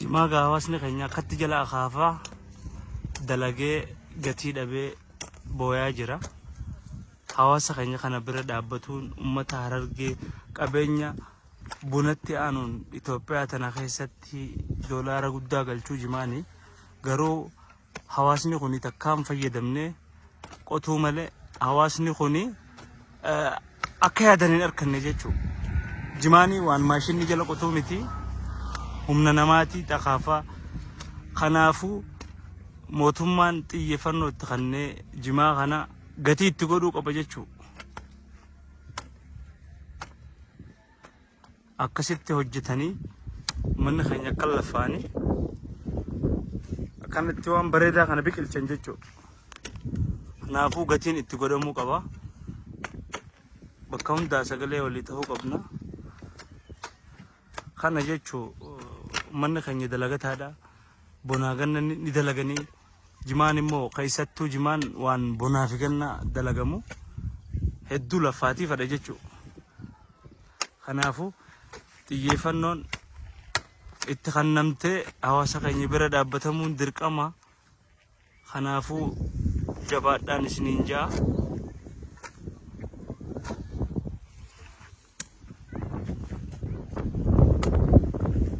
Jimaa gaa hawaasni keenya akkatti jala akaafaa dalagee gatii dhabee booyaa jira. Hawaasa keenya kana bira dhaabbatuun uummata harargee qabeenya bunatti aanuun Itoophiyaa tana keessatti doolaara guddaa galchuu jimaani. Garuu hawaasni kuni takkaa hin fayyadamne qotuu malee hawaasni kuni eh, akka yaadan hin arkanne jechuudha. Jimaanii waan maashinni jala qotuu miti humna namaatii dhakaafaa kanaafuu mootummaan xiyyeeffannoo itti kennee jimaa kana gatii itti godhuu qaba jechuudha. akkasitti hojjetanii uummanni keenya akka lafaani akkanatti waan bareedaa kana biqilchan jechuudha. Kanaafuu gatiin itti godhamuu qaba. Bakka hundaa sagalee walii ta'uu qabna. Kana jechuun uummanni keenya dalagataadha. bonaa ganna ni ni dalaganii jimaan immoo keessattuu jimaan waan bonaa fi ganna dalagamu hedduu laffaatii fadha jechuu kanaafuu xiyyeeffannoon itti kannamtee hawaasa keenya bira dhaabbatamuun dirqama kanaafuu jabaadhaan isiniin ja'a.